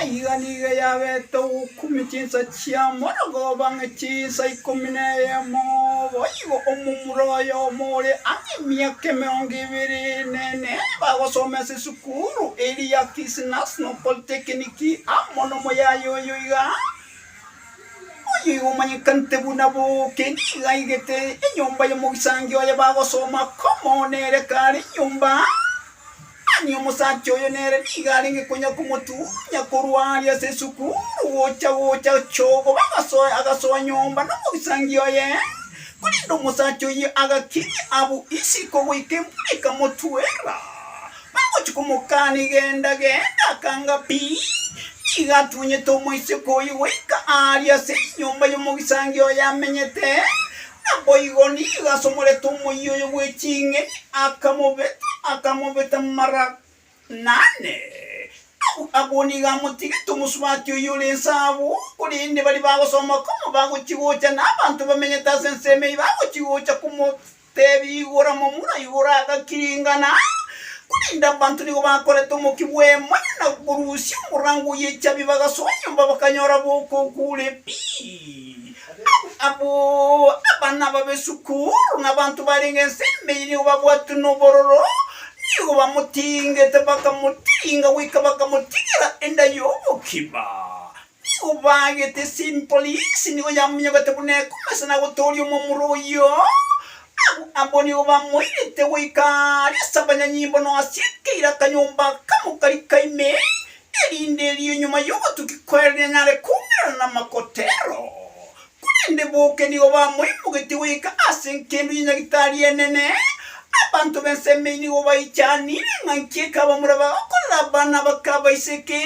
Aiga nigo yabete ogokumia chinsa chia morogoo bang'e chinsa ikomi na eyemo. Boigo omomura oyomo ore ang'e emiaka emerongo ebere nene bagosoma ase esukuru eria ya Kisii National Polytechnic amo nomoyaya oyo iga oyo iga omanyekanete buna Booke nigo aigete enyomba y'omogisangio oye bagosoma komo nere kare enyomba Mani omosacha oyo nere nigo arenge konya komotuunya korwa aria ase esukuru gocha gocha chogoba agasoe agasoa nyomba nomogisangio oye. Korende omosacha oyio agakiria abwo isiko goika embura ekamotwera. Bagochia komokani genda genda akanga pi. Nigo atunyete omoiseke oyio goika aria ase enyomba y'omogisangio oye amenyete, Naboigo nigo asomorete omoyia oye gwe ching'eni, akamobeta, akamobeta mara na ane. Abw abwo nigo amotigete omosubati oyio ore inse abwo, korende baria bagosoma komo bagochia gocha, na abanto bamenyete ase ensemo eyio bagochia gocha komotebia igora momura igoro agakiringana, korende abanto nigo bakorete omokia bw'emoyo na korusia omorango o Yechabi bagasoa nyomba bakanyora bokoku ore pi. Abwo abana babe sukuru na abanto barenge ensemberi nigo babwatwe nobororo, nigo bamotingete bakamotinga goika bakamotigera enda y'obokima. Nigo baagete Simpolisi nigo yamonyogete buna ekomesa na gotooria omomura oyio. Abwo abwo nigo bamoirete goika aria as'abanyanyimbo noasieke ira akanyomba akamokari ka ime, erinde erio nyuma y'obotuki kwerire nare koumerana namakotero, korende boke nigo bamoimogetie goika ase engencho ya Nyagitari enene. Abanto b'ensemo eyio nigo baichanire ng'a nki ekabamura bagokorera abana abakabaiseke,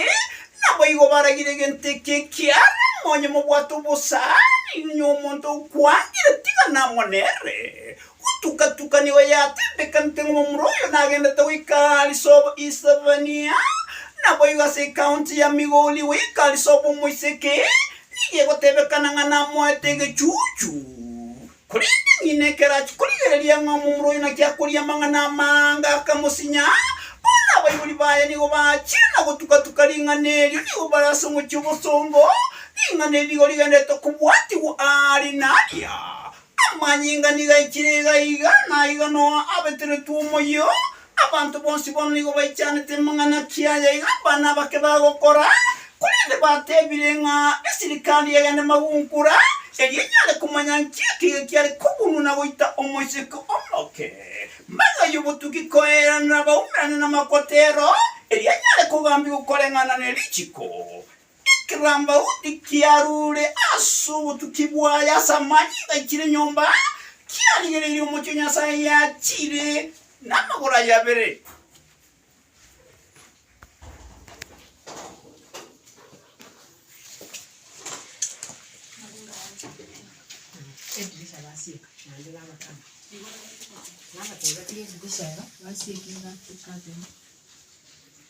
naboigo baragire egento eke ekiarama onye mobwate obosa, nigo omonto okwangire tiga namonere, Gotuka-tuka nigo yatendekanete ng'a omura oyo nagendete goika Alice of East Savania, naboigo ase ecounty ya Migori goika Alice of Omoiseke nigo egotebekana ng'a namoete egechuchu. Korende ng'ina ekero achia korigereria ng'a omomura oyo naki akoria amang'ana amanga akamosinya, bono abaibori baye nigo bachire na gotuka-tuka ring'ana erio nigo bare ase omochie obosongo, ring'ana eri nigo rigendererete kobwatigwa aria na aria. Amanyinga nigo achiire iga iga, na igo Noa abeteretwe omoyio. Abanto bonsi bono nigo baichanete amang'ana kiaye iga abane abake bagokora, korende batebire ng'a esirikari egende magunkura, erio enyare komanya nki ekiya kiare kobunwa na goita omoiseke omoke. Maiga oyio botuki koeranera abaumerane namakotero, erio anyare kogambigwa koreng'ana nerichiko. Ekerambauni kiarure ase obotuki bwaye ase amani gaikire nyomba, kiarigereirie omochie o Nyasae yachire namagoro aye abere.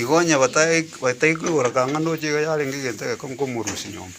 Igo onye batagaikwegora kang'ana oche iga yarenge egento egekong'u komorusia nyomba.